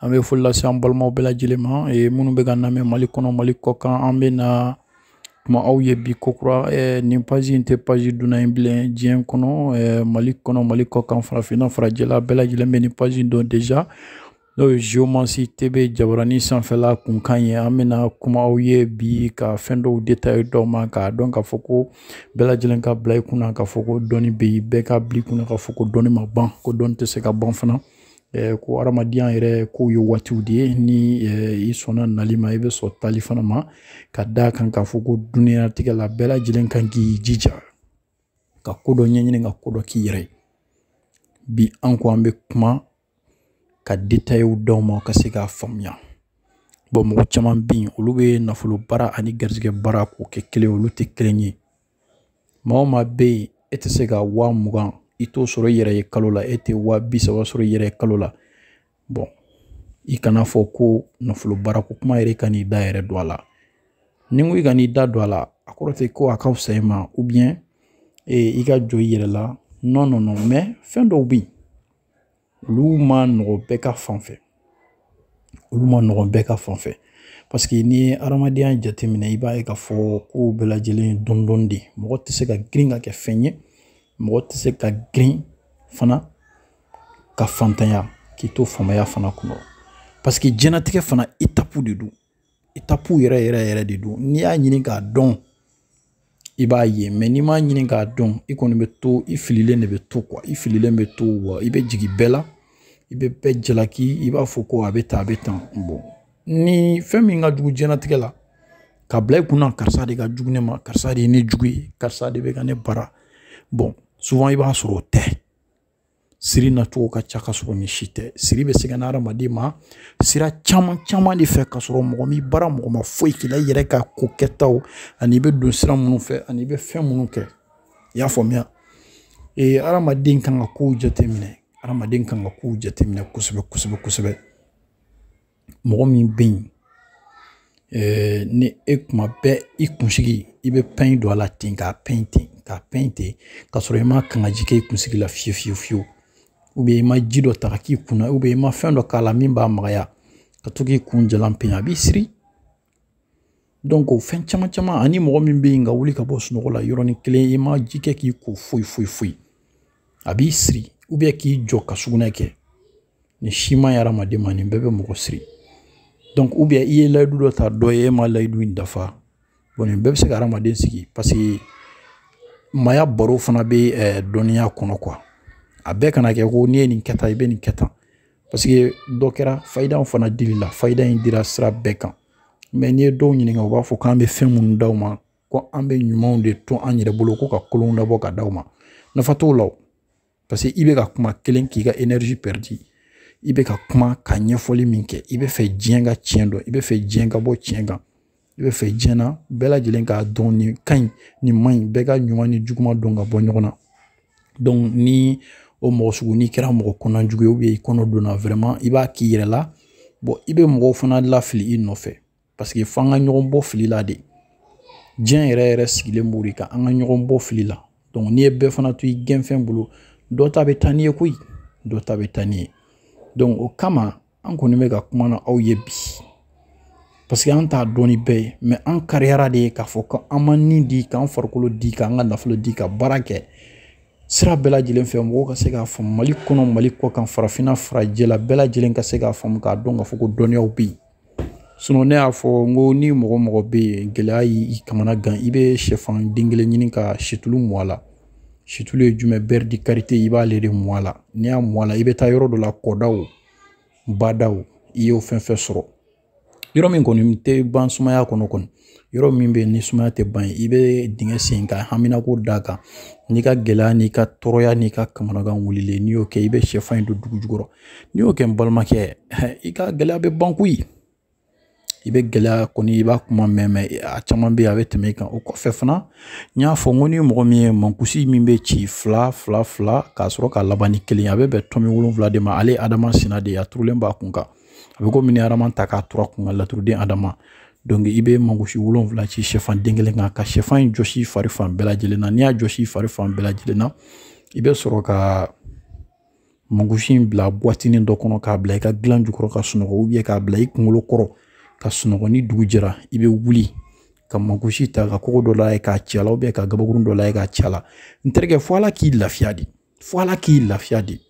an bɛ foli lase an balimaw bɛɛ lajɛlen ma minnu bɛ ka namɛn mali kɔnɔ mali kɔkan an bɛ na kuma aw ye bi ko kura nin paji in tɛ paji dunan ye bilen diɲɛ kɔnɔ mali kɔnɔ mali kɔkan farafinna farajɛla bɛɛ lajɛlen bɛ nin paji in dɔn deja n'o ye geomansi tebe jabarani sanfɛla kunkan ye an bɛna kuma aw ye bi ka fɛn dɔw detaye d'aw ma k'a dɔn k'a fɔ ko bɛɛ lajɛlen ka bila i kunna k'a fɔ ko dɔnni bɛ yen bɛɛ ka bila i kunna k'a fɔ ko dɔnni ma ban ko dɔnni tɛ se ka ban fana ko hadamadenya yɛrɛ kow ye waatiw de ye ni i sɔnna nali ma i bɛ sɔn taali fana ma ka da kan k'a fɔ ko duniyalatigɛ la bɛɛ lajɛlen kan k'i jija ka ko dɔ ɲɛɲini ka ko dɔ k'i yɛrɛ ye bi an ko an bɛ kuma ka detayew d'aw ma ka se k'a faamuya bon mɔgɔ caman bɛ yen olu bɛ nafolo baara ani garijɛgɛ baara k'o kɛ kelen olu tɛ kelen ye maa o maa bɛ yen e tɛ se ka wa mugan i t'o sɔrɔ i yɛrɛ ye kalo la e tɛ wa bi saba sɔrɔ i yɛrɛ ye kalo la bon i kan'a fɔ ko nafolo baara ko kuma yɛrɛ i kan'i da yɛrɛ don a la ni n ko i kan'i da don a la a kɔrɔ tɛ ko a ka fisa i ma ou bien i ka jɔn i yɛrɛ la non non mais fɛn dɔw bɛ yen olu ma nɔgɔ bɛɛ ka fan fɛ olu ma nɔgɔ bɛɛ ka fan fɛ parce que n'i ye adamadenya jateminɛ i b'a ye k'a fɔ kow bɛɛ lajɛlen ye dɔɔni dɔɔni de mɔgɔ tɛ se ka girin ka kɛ fɛn ye mɔgɔ tɛ se ka girin fana ka faantanya k'i to faamaya fana kɔnɔ parce que jɛnatigɛ fana etapu de don etapu yɛrɛ yɛrɛ yɛrɛ de don n'i y'a ɲini k'a dɔn i b'a ye mais n'i m'a ɲini k'a dɔn i kɔni bɛ to i fililen de bɛ to quoi i fililen bɛ to wa i bɛ jigin bɛɛ la i bɛ bɛɛ jalaki i b'a fɔ ko a bɛ tan a bɛ tan bon ni fɛn min ka jugu diɲɛnatigɛ la ka bila i kunna karisa de ka jugu ne ma karisa de ye ne jugu ye karisa de bɛ ka ne baara bon souvent i b'a sɔrɔ o tɛ siri nacogo ka ca ka sɔrɔ nin si tɛ siri bɛ se ka na adamaden ma sira caman caman de fɛ ka sɔrɔ mɔgɔ m'i baara mɔgɔ ma foyi k'i la i yɛrɛ ka ko kɛtaw ani i bɛ don sira minnu fɛ ani i bɛ fɛn minnu kɛ i y'a faamuya ee adamaden kan ka kow jateminɛ adamaden kan ka kow jateminɛ kosɛbɛ kosɛbɛ kosɛbɛ mɔgɔ min bɛ yen eh, ni e kuma bɛɛ i kunsigi i bɛ pɛn don a la ten k'a pɛn ten k'a pɛn ten ka sɔrɔ i ma kangaji kɛ i kunsigi la fiyewu fiyewu fiyewu ou bien i ma ji dɔ ta k'a k'i kunna ou bien i ma fɛn dɔ k'a la min b'a magaya ka to k'i kun jalan pɛn a b'i siri donc o fɛn caman caman ani mɔgɔ min bɛ yen ka wuli ka bɔ sunɔgɔ la yɔrɔnin kelen i ma ji kɛ k'i ko foyi foyi foyi a b'i siri ou bien k'i jɔ ka sugunɛ kɛ nin si man ɲi hadamaden ma nin bɛɛ bɛ mɔgɔ siri donc ou bien i ye layidu dɔ ta dɔ ye e ma layidu in dafa bon nin bɛɛ bɛ se ka hadamaden siri parce que maaya baro fana bɛ ɛɛ eh, dɔnniya kɔnɔ quoi a bɛɛ kana kɛ ko n'i ye nin kɛ tan i bɛ nin kɛ tan parce que dɔ kɛra fayidaw fana dili la fayida in dira sira bɛɛ kan mais n'i ye dɔw ɲininka u b'a fɔ k'an bɛ fɛn minnu d'aw ma ko an bɛ ɲumanw de to an yɛrɛ bolo ko ka kolonw labɔ ka d'aw ma nafa t'o la parce que i bɛ ka kuma kelen k'i ka énergie pɛridi i bɛ ka kuma ka ɲɛfɔli min kɛ i bɛ fɛ diɲɛ ka tiɲɛ dɔn i bɛ fɛ diɲɛ ka bɔ tiɲɛ kan i bɛ fɛ diɲɛ na bɛɛ lajɛlen k'a dɔn nin ka ɲi nin man ɲi bɛɛ ka ɲuman ni juguman dɔn ka bɔ ɲɔgɔn na donc ni o mɔgɔ sugu n'i kɛra mɔgɔ kɔnɔna jugu ye ou bien i kɔnɔ donna vraiment i b'a k'i yɛrɛ la bon i bɛ mɔgɔw fana lafili i nɔfɛ parce que f'an ka ɲɔgɔn bɔ fili la de diɲɛ yɛrɛ yɛrɛ sigilen b'o de kan an ka ɲɔgɔn bɔ fili la donc n'i ye bɛɛ fana to i gɛnfɛn bolo dɔ ta bɛ taa n'i ye koyi dɔ ta bɛ taa n'i ye donc o kama an kɔni bɛ ka kuma n'aw ye bi parce que an t'a dɔn ni bɛɛ ye mais an kariyara de ye k'a fɔ ko an ma ni di k'an farikolo di k'an ka nafolo di ka baara kɛ sira bɛɛ lajɛlen fɛ mɔgɔw ka se k'a faamu mali kɔnɔ mali kɔ kan farafinna farajɛla bɛɛ lajɛlen ka se k'a faamu k'a dɔn k'a fɔ ko dɔnniyaw bɛ yen sinon ne y'a fɔ n ko ni mɔgɔ mɔgɔ bɛ yen gɛlɛya y'i kamana gan i bɛ sɛfan den kelen ɲini ka situlu mɔ a la situlu ye jumɛn beurre de karité i b'ale de mɔ a la n'i y'a mɔ a la i bɛ taa yɔrɔ dɔ la kɔdaw badaw i y'o fɛn fɛn sɔrɔ yɔrɔ min kɔni tɛ ban sumaya kɔnɔ kɔni yɔrɔ min bɛ ni sumaya tɛ ban i bɛ dingɛ sen ka haminako d'a kan n'i ka gɛlɛya n'i ka tɔɔrɔya n'i ka kamanagan wulilen n'i y'o kɛ i bɛ sɛfan in don dugu jukɔrɔ n'i y'o kɛ n balimakɛ i ka gɛlɛya bɛ ban koyi i bɛ gɛlɛya kɔni i b'a kuma mɛn mais a caman bɛ yen a bɛ tɛmɛ i kan o kɔfɛ fana n y'a fɔ n ko ni mɔgɔ min ye mankusi min bɛ ci fila fila fila k'a sɔrɔ ka laban ni kelen a bɛ bɛn tɔmi wolonwula de ma ale adama sina de a turulen b'a kun kan a bɛ komi ni adama ta k'a tur'a kun kan laturuden adama donc i bɛ mankusi wolonwula ci sɛfan den kelen kan ka sɛfan in jɔsi fari fan bɛɛ lajɛlen na n'i y'a jɔsi fari fan bɛɛ lajɛlen na i bɛ sɔrɔ ka mankusi in bila buwatinin dɔ kɔnɔ k'a bila i ka dilan jukɔrɔ ka sunɔgɔ ou bien k'a bila i kunkolo kɔrɔ ka sunɔgɔ ni dugu jɛra i bɛ wuli ka mankusi ta ka kogo dɔ layɛ k'a ci a la ou bien ka gabakurun dɔ layɛ k'a ci a la n terikɛ fo ala k'i lafiya de fo ala k'i lafiya de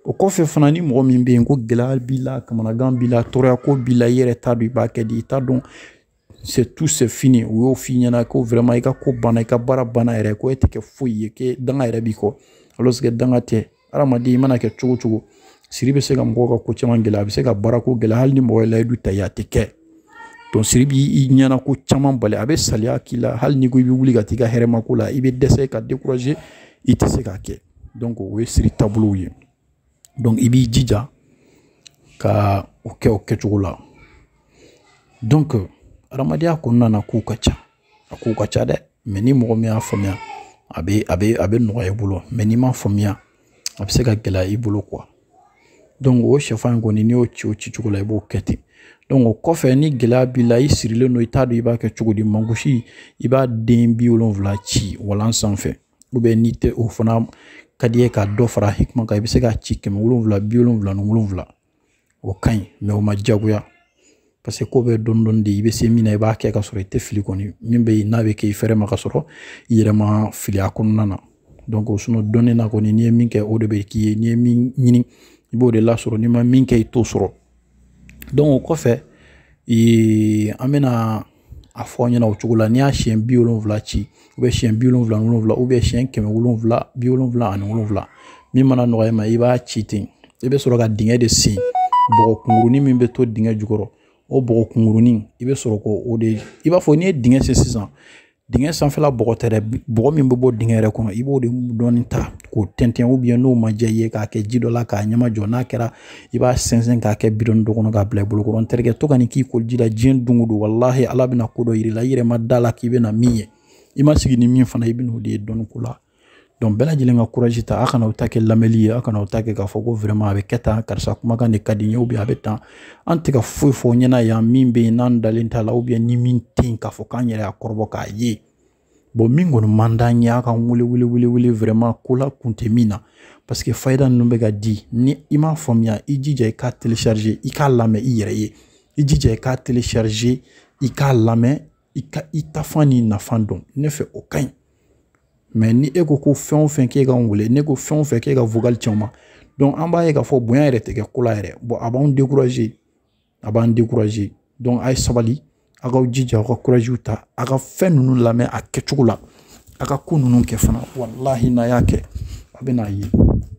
o kɔfɛ fana ni mɔgɔ min bɛ yen ko gɛlɛya b'i la kamanagan b'i la tɔɔrɔya ko b'i la i yɛrɛ t'a dɔn i b'a kɛ di i t'a dɔn c'est tout c'est fini u y'o f'i ɲɛna ko vraiment i ka ko banna i ka baara banna yɛrɛ ko e tɛ kɛ foyi ye que danga yɛrɛ b'i kɔ alors que danga tɛ hadamaden i mana kɛ cogo cogo siri bɛ se ka mɔgɔw ka ko caman gɛlɛya a bɛ se ka baarako gɛlɛya hali ni mɔgɔ ye layidu ta i ye a tɛ kɛ donc siri b'i ɲɛnako caman bali a bɛ saliya k'i la hali n'i ko i bɛ wuli ka t'i ka hɛrɛmako la i bɛ dɛsɛ ka décourager i tɛ se k'a kɛ donc o ye siri taabolow ye donc i b'i jija ka o kɛ o kɛcogo la donc adamadenya kɔnɔna na kow ka ca a kow ka ca dɛ mais ni mɔgɔ min y'a faamuya a bɛ a bɛ a bɛ nɔgɔya i bolo mais n'i m'a faamuya a bɛ se ka gɛlɛya i bolo quoi donc o sɛfan in kɔni n'i y'o ci o ci cogo la i b'o kɛ ten donc o kɔfɛ ni gɛlɛya b'i la i sirilen don i t'a dɔn i b'a kɛ cogo di mankusi i b'a den bi wolonwula ci walan sanfɛ n'i tɛ o fana ka d'i ye ka dɔ fara hikima kan i bɛ se k'a ci kɛmɛ wolonwula bi wolonwula ni wolonwula o ka ɲi mais o ma diyagoya parce que ko bɛ dɔɔni dɔɔni de i bɛ se min na i b'a kɛ ka sɔrɔ i tɛ fili kɔni min bɛ yen n'a bɛ kɛ i fɛrɛ ma ka sɔrɔ i yɛrɛ ma fili a kɔnɔna na donc dɔnni na kɔni n'i ye min kɛ o de bɛ k'i ye n'i ye min ɲini i b'o de lasɔrɔ n'i ma min kɛ i t'o sɔrɔ donc o kɔfɛ ee an bɛna a fɔ aw ɲɛna o cogo la n'i y'a siɲɛ bi wolonwula ci ou bien siɲɛ bi wolonwula wolonwula ou bien siɲɛ kɛmɛ wolonwula bi wolonwula ani wolonwula min mana nɔgɔya i ma i b'a ci ten i bɛ sɔrɔ ka dingɛ de sen bɔgɔ kunkurunin min bɛ to dingɛ jukɔrɔ o bɔgɔ kunkurunin i bɛ sɔrɔ k'o de i b'a fɔ n'i ye dingɛ sen sisan Dingɛ sanfɛla bɔgɔ tɛ dɛ bɔgɔ min bɛ bɔ dingɛ yɛrɛ kɔnɔ i b'o de dɔɔni ta k'o tɛntɛn ou bien n'o ma diya i ye k'a kɛ ji dɔ la k'a ɲɛma jɔ n'a kɛra i b'a sɛnsɛn k'a kɛ bidɔnnin dɔ kɔnɔ k'a bila i bolo kɔrɔ n terikɛ to ka nin k'i koliji la diɲɛ don o don walahi ala bɛna ko dɔ yir'i la i yɛrɛ ma d'a la k'i bɛna min ye i ma sigi ni min fana i bɛn'o de ye dɔnni ko la donc bɛɛ lajɛlen ka courage ta a kana aw ta kɛ lamɛnli ye a kana aw ta kɛ k'a fɔ ko vraiment a bɛ kɛ tan karisa kumakan de ka di n ye ou bien a bɛ tan an tɛ ka foyi fɔ ɲɛna yan min bɛ yen n'an dalen t'a la ou bien ni min tɛ yen k'a fɔ k'an yɛrɛ y'a kɔrɔbɔ k'a ye bon min kɔni man d'an ye a ka wele wele wele wele vraiment ko la kun tɛ min na parce que fayida ninnu bɛ ka di ni i m'a faamuya i jija i k'a télécharger i k'a lamɛn i yɛrɛ ye i jija i k'a télécharger i k'a lamɛn i ka i tafan ni nafan dɔn ne fɛ o ka ɲi mais ni e ko ko fɛn o fɛn k'e ka n wele n'e ko fɛn o fɛn k'e ka vocal ci anw ma donc an b'a ye k'a fɔ bonya yɛrɛ tɛ kɛ ko la yɛrɛ bon a b'anw décourager a b'an décourager donc a ye sabali a k'aw jija aw ka courage ta a ka fɛn ninnu lamɛn a kɛcogo la a ka ko ninnu kɛ fana walahi n'a y'a kɛ a bɛn'a ye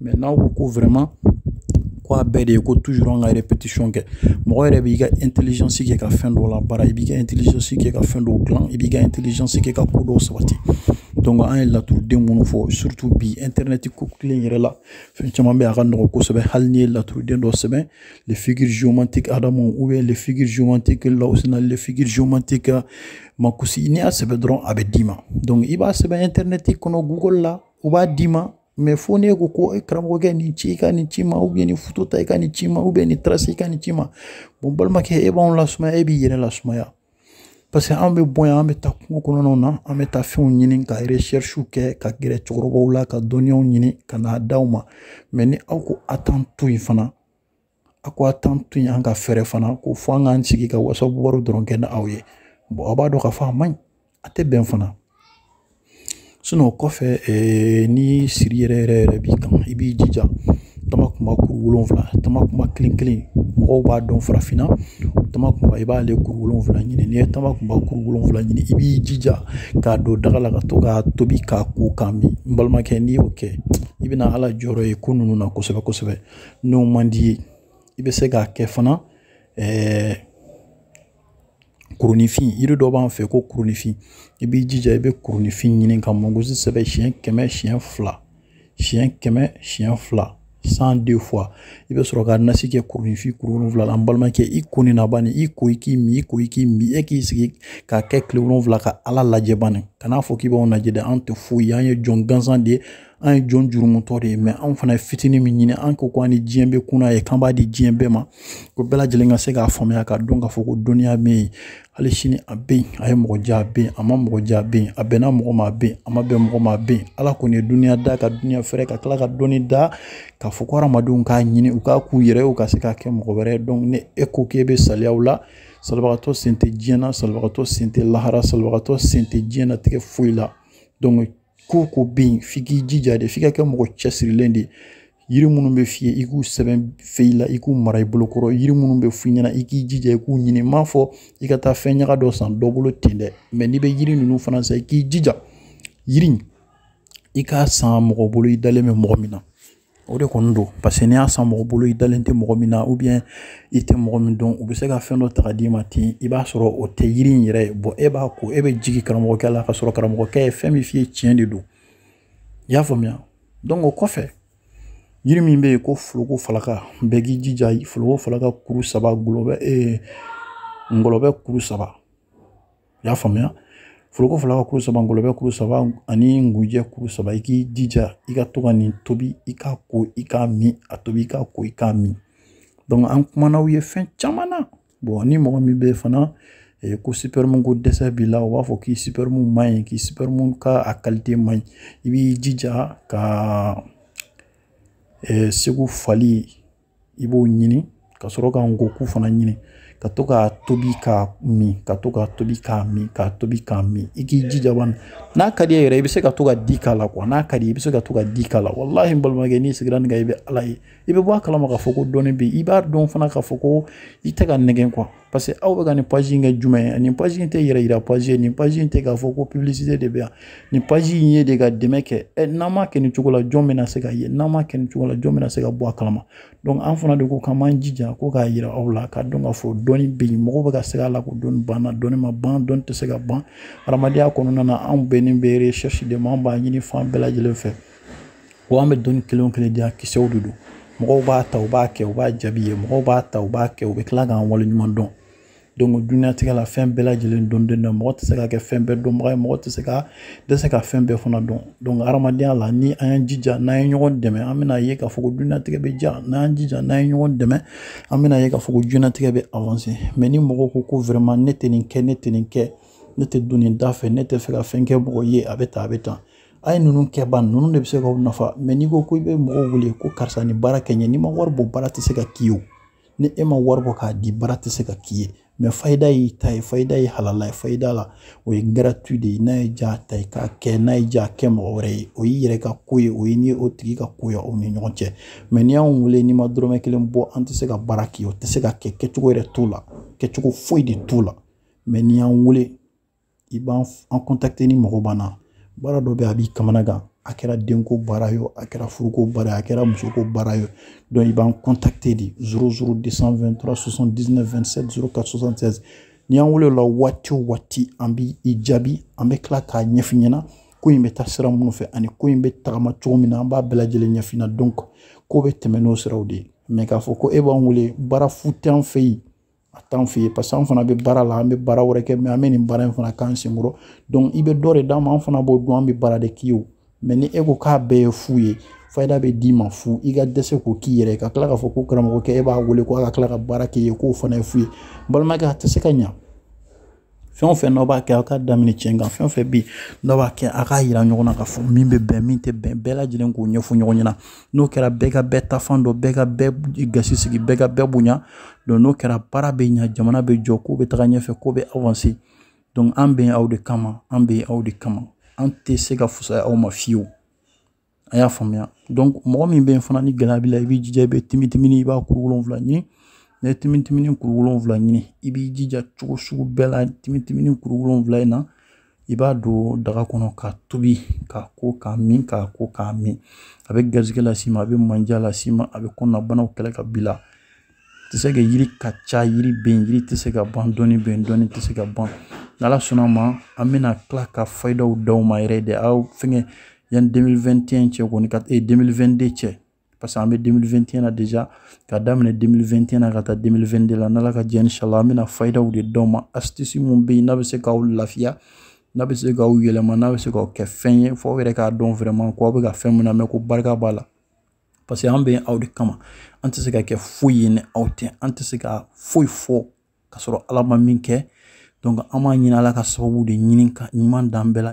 mais n'aw ko ko vraiment ko a bɛɛ de ye ko toujours an ka répétition kɛ mɔgɔ yɛrɛ b'i ka intelligence kɛ ka fɛn dɔw labaara i b'i ka intelligence kɛ ka fɛn dɔw dilan i b'i ka intelligence kɛ ka ko dɔw sabati donc an ye laturuden minnu fɔ surtout bi internet ko kelen yɛrɛ la fɛn caman bɛ a ka nɔgɔn kosɛbɛ hali n'i ye laturuden dɔ sɛbɛn les figures géomantiques Adama ou bien les figures géomantiques Laosina, les figures géomantiques euh, Mankusi, n'i y'a sɛbɛn dɔrɔn a bɛ d'i ma donc i b'a sɛbɛn internet kɔnɔ google la u b'a d'i ma mais fo n'e ko ko e karamɔgɔkɛ nin ci i ka nin ci n ma ou bien nin foto ta i ka nin ci n ma ou bien nin trace i ka nin ci n ma bon balimakɛ e b'anw lasumaya e b'i yɛrɛ lasumaya parce que an bɛ bɔ yan an bɛ taa kungo kɔnɔnaw na an bɛ taa fɛnw ɲini ka recherchew kɛ ka gɛrɛ cɛkɔrɔbaw la ka dɔnniyaw ɲini ka n'a d'aw ma mais ni aw ko a t'an to yen fana a ko a t'an to yen an ka fɛrɛ fana ko fo an k'an sigi ka whatsapp baro dɔrɔn kɛ ni aw ye bon aw b'a dɔn k'a fɔ a man ɲi a tɛ bɛn fana o kɔfɛ eh, ni siri yɛrɛ yɛrɛ yɛrɛ b'i kan i b'i jija tamakunba kuru wolonfila tamakunba kelen kelen mɔgɔw b'a dɔn farafinna tamakunba i b'ale kuru wolonfila ɲini n'i ye tamakunba kuru wolonfila ɲini i b'i jija k'a don daga la ka to k'a tobi k'a ko k'a min n balimakɛ n'i y'o kɛ i bɛna ala jɔyɔrɔ ye ko ninnu na kosɛbɛ kosɛbɛ n'o man d'i ye i bɛ se k'a kɛ fana ɛɛ eh, kuruninfin yiri dɔ b'an fɛ ko kuruninfin i b'i jija i bɛ kuruninfin ɲini ka mɔgosi sɛbɛn siɲɛ kɛmɛ siɲɛ fila siɲɛ kɛmɛ siɲɛ fila cent deux fois i bɛ sɔrɔ ka nasi kɛ kuruninfin kuru wolonwula la an balimakɛ i ko nin na bani i ko i k'i min i ko i k'i min e k'i sigi k'a kɛ tile wolonwula ka ala lajɛ bani kan'a fɔ k'i b'anw lajɛ dɛ an tɛ foyi ye an ye jɔn gansan de ye an ye jɔn jurumutɔ de ye mais anw fana ye fitini min ɲini an ko ko an ni diɲɛ bɛ kunna ye k'an b'a di diɲɛ bɛɛ ma ko bɛɛ lajɛlen ka se k'a faamuya k'a dɔn k'a fɔ ko dɔnniya bɛ yen hali sini a bɛ yen a ye mɔgɔ diya a bɛ yen a ma mɔgɔ diya a bɛ yen a bɛnna mɔgɔ ma a bɛ yen a ma bɛn mɔgɔ ma a bɛ yen ala kɔni ye duniya da ka duniya fɛrɛ ka tila ka dɔnni da k'a fɔ ko hadamadenw k'a ɲini u k'a k'u yɛrɛ ye u ka se k'a kɛ mɔgɔ wɛrɛ ye donc ni e ko k'e bɛ saliya o la salibagatɔ sen tɛ diɲɛ na salibagatɔ sen tɛ lahara salibagatɔ sen tɛ diɲɛnatigɛ foyi la donc ko ko bɛ yen f'i k'i jija de f'i ka kɛ mɔgɔ cɛsirilen de ye yiri minnu bɛ f'i ye i k'u sɛbɛn feuille la i k'u mara i bolo kɔrɔ yiri minnu bɛ f'i ɲɛna i k'i jija i k'u ɲini n m'a fɔ i ka taa fɛn ɲaga dɔ san dɔ bolo ten dɛ mais n'i bɛ yiri ninnu fana san i k'i jija yiri i k'a san mɔgɔ bolo i dalen bɛ mɔgɔ min na o de kɔni don parce que n'i y'a san mɔgɔ bolo i dalen tɛ mɔgɔ min na ou bien i tɛ mɔgɔ min dɔn u bɛ se ka fɛn dɔ ta ka d'i ma ten i b'a sɔrɔ o tɛ yiri in yɛrɛ ye bon e b'a ko e bɛ jigin karamɔgɔkɛ la ka sɔrɔ karamɔgɔkɛ ye fɛn min f'i ye tiɲɛ de don i y'a faamuya donc o kɔfɛ yiri min bɛ yen ko foroko falaka bɛɛ k'i jija foroko falaka kuru saba ngɔlɔbɛ ee ngɔlɔbɛ kuru saba i y'a faamuya foroko falaka kuru saba ngɔlɔbɛ kuru saba ani ngunjɛ kuru saba i k'i jija i ka to ka nin tobi i ka ko i k'a min a tobi i ka ko i k'a min donc an kumana aw ye fɛn caman na bon ni mɔgɔ min bɛ fana Eh, ko sipɛrimu ko dɛsɛ b'i la u b'a fɔ k'i sipɛrimu man ɲi k'i sipɛrimu ka a kalite man ɲi i b'i jija ka eh, segu fali i b'o ɲini ka sɔrɔ ka ngɔku fana ɲini ka to k'a tobi k'a min ka to k'a tobi k'a min k'a tobi k'a min i k'i jija bani n'a ka d'i ye yɛrɛ i bɛ se ka to ka di k'a la quoi n'a ka di i bɛ se ka to ka di k'a la walahi n balimakɛ n'i sigira nin kan i bɛ ala ye i bɛ bɔ a kalama k'a fɔ ko dɔnni bɛ yen i b'a dɔn fana k'a fɔ ko i tɛ ka nɛgɛn quoi parce que aw bɛ ka nin page in kɛ jumɛn ye nin page in tɛ yɛrɛ yira page ye nin page in tɛ k'a fɔ ko publicité de bɛ yan nin page in ye de ka dɛmɛ kɛ ɛ n'an m'a kɛ nin cogo la jɔn bɛna se ka ye n'an m'a kɛ nin cogo la jɔn bɛna se ka bɔ a kalama donc an fana de ko k'an b'an jija ko k'a yira aw la k'a dɔn k'a fɔ dɔnni bɛ yen mɔgɔw bɛ ka se k'a la ko dɔnni banna dɔnni ma ban dɔnni tɛ se ka ban hadamadenya kɔnɔna na anw bɛnnen bɛ recherche de ma an b'a ɲini fan bɛɛ lajɛlen fɛ wa an bɛ dɔnni kelen o kelen di yan kisɛw de don mɔgɔw b'a ta u b'a kɛ u b'a jaabi ye mɔgɔw b'a ta u b'a kɛ u bɛ tila k'an waleɲumandɔn donc dunyatigɛ la fɛn bɛɛ lajɛlen dɔnden don mɔgɔ tɛ se ka kɛ fɛn bɛɛ dɔnbaga ye mɔgɔ tɛ se ka dɛsɛ ka fɛn bɛɛ fana dɔn donc hadamadenya la ni an y'an jija n'an ye ɲɔgɔn dɛmɛ an bɛna ye k'a fɔ ko dunyatigɛ bɛ diya n'an y'an jija n'an ye ɲɔgɔn dɛmɛ an bɛna ye k'a fɔ ko dunyatigɛ bɛ avancer mais ni mɔgɔw ko ko vraiment ne tɛ nin kɛ ne tɛ nin kɛ ne tɛ don nin da fɛ ne tɛ fɛ ka fɛn kɛ mɔgɔ ye a bɛ tan a bɛ tan a ye ninnu kɛ ban ninnu de bɛ se k'aw nafa mais n'i ko ko i bɛ mɔgɔw wele ko karisa nin baara kɛ n ye n'i ma wari bɔ baara tɛ se ka k'i ye o ni e ma wari bɔ k'a di baara tɛ se ka k'i ye mais fayida y'i ta ye fayida ye halala ye fayida la o ye gratuit de ye ni e y'a ta i k'a kɛ ni e y'a kɛ mɔgɔ wɛrɛ ye o y'i yɛrɛ ka ko ye o y'e ni o tigi ka ko ye aw ni ɲɔgɔn cɛ mais n'i y'anw wele n'i ma dɔrɔmɛ kelen bɔ an tɛ se ka baara k'i ye o tɛ se ka kɛ kɛcogo yɛrɛ t'o la kɛcogo foyi de t'o la mais n'i y'an wele i b'an an contacter n'i mago b'an na baara dɔ bɛ a b'i kamana gan a kɛra denko baara ye a kɛra furuko baara ye a kɛra musoko baara ye donc i b'an contacter de zéro zéro deux cent vingt-trois soixante-dix-neuf vingt-sept zéro quatre soixante-sept n'i y'an wele o la waati o waati an b'i jaabi an bɛ tila k'a ɲɛf'i ɲɛna ko in bɛ taa sira minnu fɛ ani ko in bɛ tagama cogo min na an b'a bɛɛ lajɛlen ɲɛf'i ɲɛna donc ko bɛ tɛmɛ n'o siraw de ye mais k'a fɔ ko e b'an wele baara fu t'an fɛ yen a t'an fɛ yen parce que an fana bɛ baara la an bɛ baara wɛrɛ kɛ mais an bɛ nin baara in fana k'an senkɔrɔ i bɛ dɔ de d'an ma an fana b'o dɔn an bɛ baara de k'i ye o mais ni e ko k'a bɛɛ ye fu ye fayida bɛ d'i ma fu i ka dɛsɛ k'o k'i yɛrɛ ye ka tila k'a fɔ ko karamɔgɔkɛ e b'a wele ko a ka tila ka baara k'i ye k'o fana ye fu ye balimakɛ a tɛ se ka ɲa fɛn o fɛn n'aw b'a kɛ aw k'a daminɛ tiɲɛ kan fɛn o fɛn bɛ yen n'aw b'a kɛ a k'a yira ɲɔgɔn na k'a fɔ min bɛ bɛn min tɛ bɛn bɛɛ lajɛlen k'o ɲɛfɔ ɲɔgɔn ɲɛna n'o kɛra bɛɛ ka bɛɛ tafan dɔn bɛɛ ka bɛɛ gasi sigi bɛɛ ka bɛɛ bonya donc n'o kɛra baara bɛ ɲa jamana bɛ jɔ ko bɛ taga ɲɛfɛ ko bɛ avancer donc an bɛ aw de kama an bɛ aw de kama an tɛ se ka fusaya aw ma fiyewu a y'a faamuya donc mɔgɔ min bɛ yen fana ni gɛlɛya b'i la i b'i jija i bɛ timitimini i b'a kuru wolonwula ɲini n'i ye timitimini kuru wolonwula ɲini i b'i jija cogo sugu bɛɛ la timitimini kuru wolonwula in na i b'a don daga kɔnɔ k'a tobi k'a ko k'a min k'a ko k'a min a bɛ garisɛgɛ las'i ma a bɛ mandiya las'i ma a bɛ kɔnɔnabanaw kɛlɛ ka b'i la tɛ se ka yiri ka ca yiri bɛ yen yiri tɛ se ka ban dɔnni bɛ yen dɔnni tɛ se ka ban n'ala sɔnna ma an bɛna tila ka fayidaw d'aw ma yɛrɛ de aw fɛngɛ yanni 2021 cɛ kɔni ka ee 2022 cɛ parce que an bɛ 2021 na déjà ka daminɛ 2021 na ka taa 2022 la n'ala ka jɛn inshallah an bɛna fayidaw de d'aw ma astuce mun bɛ yen n'a bɛ se k'aw lafiya n'a bɛ se k'aw yɛlɛma n'a bɛ se k'aw kɛ fɛn ye fo aw yɛrɛ k'a dɔn vraiment ko aw bɛ ka fɛn min namɛn ko barika b'a la parce que an bɛ aw de kama an tɛ se ka kɛ foyi ye ni aw tɛ an tɛ se ka foyi fɔ ka sɔrɔ ala ma min kɛ donc an b'a ɲini ala ka sababu de ɲini ka ɲuman d'an bɛɛ la